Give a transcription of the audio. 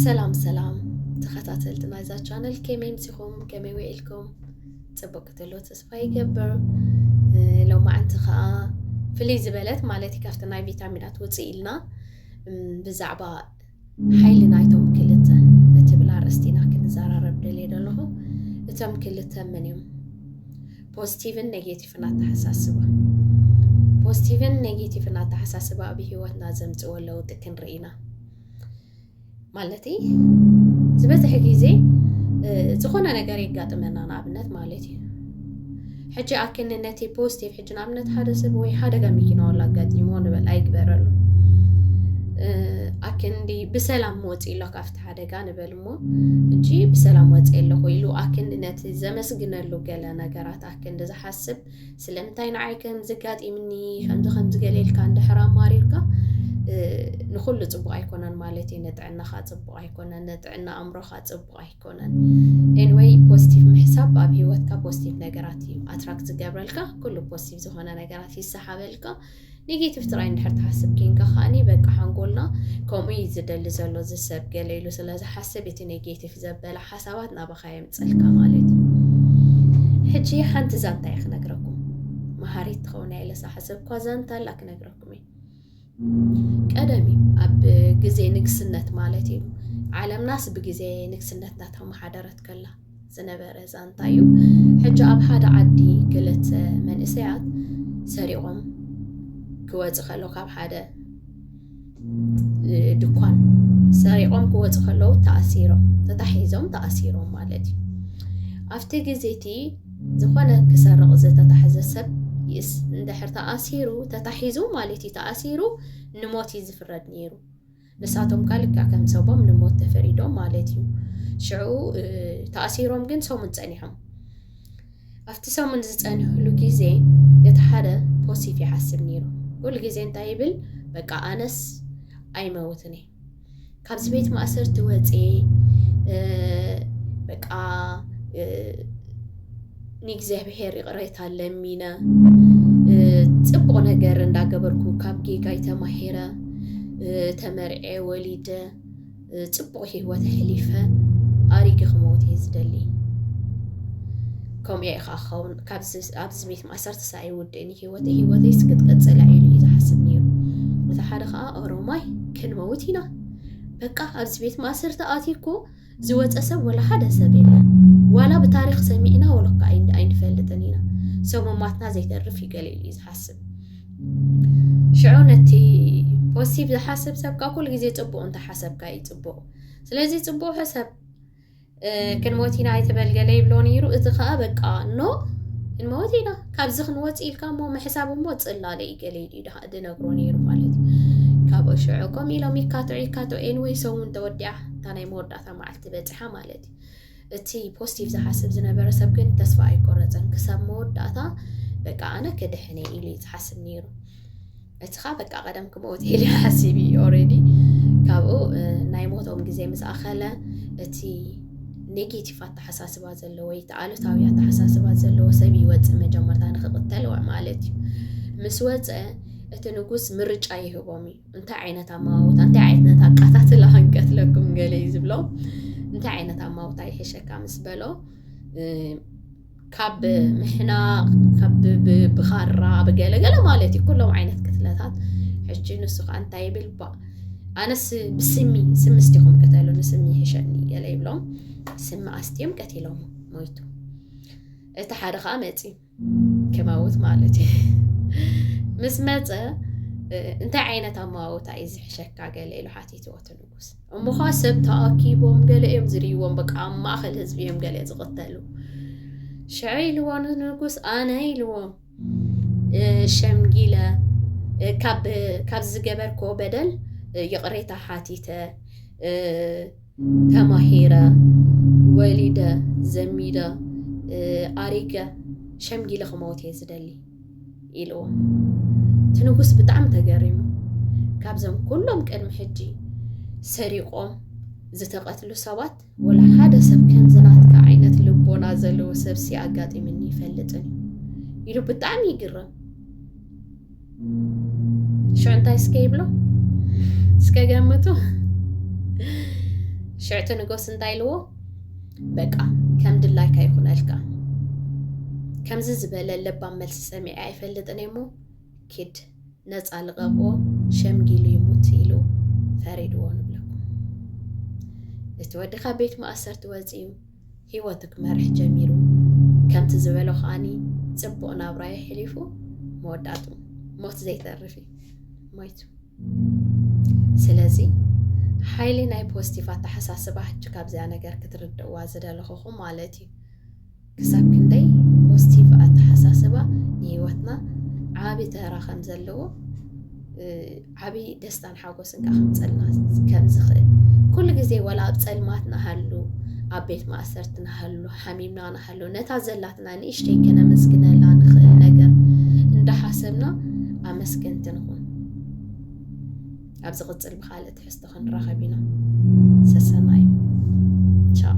ሰላም ሰላም ተኸታተልቲ ናይዛ ቻነል ከመይ ምሲኹም ከመይ ውዒልኩም ፅቡቅ ክትሎ ተስፋ ይገብር ሎማዓንቲ ከዓ ፍልይ ዝበለት ማለት ካብቲ ናይ ቪታሚናት ውፅእ ኢልና ብዛዕባ ሓይሊ ናይቶም ክልተ እትብል ኣርእስቲ ኢና ክንዘራረብ ደልየ ዘለኹ እቶም ክልተ ምን እዮም ፖዚቲቭን ኔጌቲቭ ፖስቲቭን ኣተሓሳስባ ፖስቲቭን ኔጌቲቭን ኣተሓሳስባ ኣብ ሂወትና ዘምጽዎ ለውጢ ክንርኢ ኢና ማለት ዝበዝሕ ግዜ ዝኾነ ነገር የጋጥመና ንኣብነት ማለት እዩ ሕጂ ኣክኒ ነቲ ፖስቲቭ ሕጂ ንኣብነት ሓደ ሰብ ወይ ሓደጋ መኪና ወላ ኣጋጢሞ ንበል ኣይግበረሉ ኣክንዲ ብሰላም ወፂ ኣሎ ካብቲ ሓደጋ ንበል እሞ እጂ ብሰላም ወፂ ኣለኹ ኢሉ ኣክንዲ ነቲ ዘመስግነሉ ገለ ነገራት ክንዲ ዝሓስብ ስለምንታይ ንዓይ ከምዚ ጋጢምኒ ከምዚ ከምዚ ገለ ኢልካ እንድሕር ኣማሪርካ ንኩሉ ፅቡቅ ኣይኮነን ማለት እዩ ንጥዕናካ ፅቡቅ ኣይኮነን ንጥዕና ኣእምሮካ ፅቡቅ ኣይኮነን ኤንወይ ፖዚቲቭ ምሕሳብ ኣብ ሂወትካ ፖዚቲቭ ነገራት እዩ ኣትራክት ዝገብረልካ ኩሉ ፖዚቲቭ ዝኮነ ነገራት ይሰሓበልካ ኔጌቲቭ ጥራይ እንድሕር ትሓስብ ኬንካ ከዓኒ በቃ ሓንጎልና ከምኡ እዩ ዝደሊ ዘሎ ዝሰብ ገለ ኢሉ ስለ ዝሓስብ እቲ ኔጌቲቭ ዘበለ ሓሳባት ናባኻ የምፅልካ ማለት እዩ ሕጂ ሓንቲ ዛንታ እየ ክነግረኩም መሃሪት ትኸውን እያ ኢለ ዝሓሰብኳ ዛንታ ኣላ ክነግረኩም እየ ቀደም እዩ ኣብ ግዜ ንግስነት ማለት እዩ ዓለምናስ ብግዜ ንግስነትና ተመሓደረት ከላ ዝነበረ ዛንታ እዩ። ሕጂ ኣብ ሓደ ዓዲ ክልተ መንእሰያት ሰሪቖም ክወጽእ ከሎ ካብ ሓደ ድኳን ሰሪቖም ክወጽእ ከለዉ ተኣሲሮም ተታሒዞም ተኣሲሮም ማለት እዩ። ኣብቲ ግዜ እቲ ዝኾነ ክሰርቕ ዝተታሕዘ ሰብ ይእስ እንድሕር ተኣሲሩ ተታሒዙ ማለት እዩ ተኣሲሩ ንሞት እዩ ዝፍረድ ነይሩ። ንሳቶም ከኣ ልክዕ ከም ሰቦም ንሞት ተፈሪዶም ማለት እዩ። ሽዑ ተኣሲሮም ግን ሰሙን ጸኒሖም። ኣብቲ ሰሙን ዝጸንሕሉ ግዜ እቲ ሓደ ፖሲፍ ይሓስብ ነይሩ። ኩሉ ግዜ እንታይ ይብል? በቃ ኣነስ ኣይመውትን እየ ካብዚ ቤት ማእሰርቲ ወፅየ በቃ ንእግዚኣብሔር ይቕሬታ ለሚነ ፅቡቕ ነገር እንዳገበርኩ ካብ ጌጋይ ተማሂረ ተመርዔ ወሊደ ፅቡቕ ሂወት ኣሕሊፈ ኣሪገ ክመውት እየ ዝደሊ ከምኡ ኢኻ ክኸውን ኣብዚ ቤት ማእሰርቲ ሳይ ውድእኒ ሂወተ ሂወተይስ ክትቅፅል ኢሉ እዩ ዝሓስብ ነይሩ እቲ ሓደ ከዓ ኦሮማይ ክንመውት ኢና በቃ ኣብዚ ቤት ማእሰርቲ ኣትኩ ዝወጸ ሰብ ወላ ሓደ ሰብ የለን ዋላ ብታሪኽ ሰሚዕና ወለኳ ኣይንፈልጥን ኢና ሰሙማትና ዘይተርፍ እዩ ገሊኡ እዩ ዝሓስብ ሽዑ ነቲ ፖዚቲቭ ዝሓስብ ሰብ ካብ ኩሉ ግዜ ፅቡቅ እንተሓሰብካ እዩ ፅቡቅ ስለዚ ፅቡቅ ሕሰብ ክንሞት ኢና ኣይተበልገለ ይብሎ ነይሩ እዚ ከዓ በቃ ኖ ክንመወት ኢና ካብዚ ክንወፅ ኢልካ እሞ ምሕሳብ እሞ ፅላለ እዩ ገለ ኢሉ ድሃ ድነግሮ ነይሩ ማለት እዩ ካብኡ ሽዑ ከምኡ ኢሎም ይካትዑ ይካትዑ ኤንወይ ሰሙን ተወዲዓ እታ ናይ መወዳእታ መዓልቲ በፂሓ ማለት እዩ እቲ ፖስቲቭ ዝሓስብ ዝነበረ ሰብ ግን ተስፋ ኣይቆረፀን ክሳብ መወዳእታ በቃ ኣነ ክድሕነ ኢሉ እዩ ዝሓስብ ነይሩ እትኻ በቃ ቀደም ክመውት ኢሉ ሓሲብ እዩ ኦልሬዲ ካብኡ ናይ ሞቶም ግዜ ምስ ኣኸለ እቲ ኔጌቲቭ ኣተሓሳስባ ዘለዎ ወይ እቲ ኣሉታዊ ኣተሓሳስባ ዘለዎ ሰብ ይወፅእ መጀመርታ ንክቕተል ማለት እዩ ምስ ወፀ እቲ ንጉስ ምርጫ ይህቦም እዩ እንታይ ዓይነት ኣማውታ እንታይ ዓይነት ኣቃታትላ ክንቀትለኩም ገለ እዩ ዝብሎ እንታይ ዓይነት ኣማውታ ይሕሸካ ምስ በሎ ካብ ምሕናቕ ካብ ብኻራ ብገለገለ ማለት እዩ ኩሎም ዓይነት ቅትለታት ሕጂ ንሱ ከዓ እንታይ ይብል ባ ኣነስ ብስሚ ስሚ ስቲኹም ቅተሉ ንስሚ ይሕሸኒ ገለ ይብሎም ስሚ ኣስትዮም ቀቲሎም ሞይቱ እቲ ሓደ ከዓ መፂ ክመውት ማለት እዩ ምስ መፀ እንታይ ዓይነት ኣመዋውታ እዩ ዝሕሸካ ገለ ኢሉ ሓቲትዎትሉ እሞ ኸዓ ሰብ ተኣኪቦም ገለ እዮም ዝርእይዎም በቃ ኣብ ማእኸል ህዝቢ እዮም ገለ ዝቕተሉ ሽዐ ኢልዎ ንንጉስ ኣነ ኢልዎ ሸምጊለ ካብ ዝገበርኮ በደል ይቕሬታ ሓቲተ ተማሂረ ወሊደ ዘሚደ ኣሪገ ሸምጊለ ክመውት እየ ዝደሊ ኢልዎ እቲ ንጉስ ብጣዕሚ ተገሪሙ ካብዞም ኩሎም ቅድሚ ሕጂ ሰሪቆም ዝተቐትሉ ሰባት ወላ ሓደ ሰብ ከምዚ ናትካ ዓይነት ልቦና ዘለዎ ሰብ ሲ ኣጋጢምኒ ይፈልጥን ኢሉ ብጣዕሚ ይግረም ሽዑ እንታይ እስከ ይብሎ እስከ ገምቱ ሽዕቲ ንጎስ እንታይ ኢልዎ በቃ ከም ድላይካ ይኹነልካ። ከምዚ ዝበለ ለባም መልሲ ሰሚዐ ኣይፈልጥን እሞ ኪድ ነፃ ልቐቕዎ ሸምጊሉ ይሙት ኢሉ ፈሪድዎ ንብለኩም እቲ ወዲ ካብ ቤት ማእሰርቲ ወፂኡ ሂወቱ ክመርሕ ጀሚሩ ከምቲ ዝበሎ ከዓኒ ፅቡቕ ናብራ የሕሊፉ መወዳእቱ ሞት ዘይተርፍ እዩ ሞይቱ ስለዚ ሓይሊ ናይ ፖዚቲቭ ኣተሓሳስባ ሕጂ ካብዚኣ ነገር ክትርድእዋ ዝደለኹኹ ማለት እዩ ክሳብ ክንደይ ፖዚቲቭ ኣተሓሳስባ ንሂወትና ዓብዪ ተራ ከም ዘለዎ ዓብዪ ደስታን ሓጎስን ከዓ ከምፀልና ከም ዝኽእል ኩሉ ግዜ ወላ ኣብ ፀልማት ንሃሉ ኣብ ቤት ማእሰርቲ ንሃሉ ሓሚምና ኣሎ ነታ ዘላትና ንእሽተይ ከነመስግነላ ንኽእል ነገር እንዳሓሰብና ኣመስገንቲ ንኹን ኣብ ዝቕፅል ብካልእ ትሕዝቶ ክንራኸብ ኢና ሰሰናዩ ቻው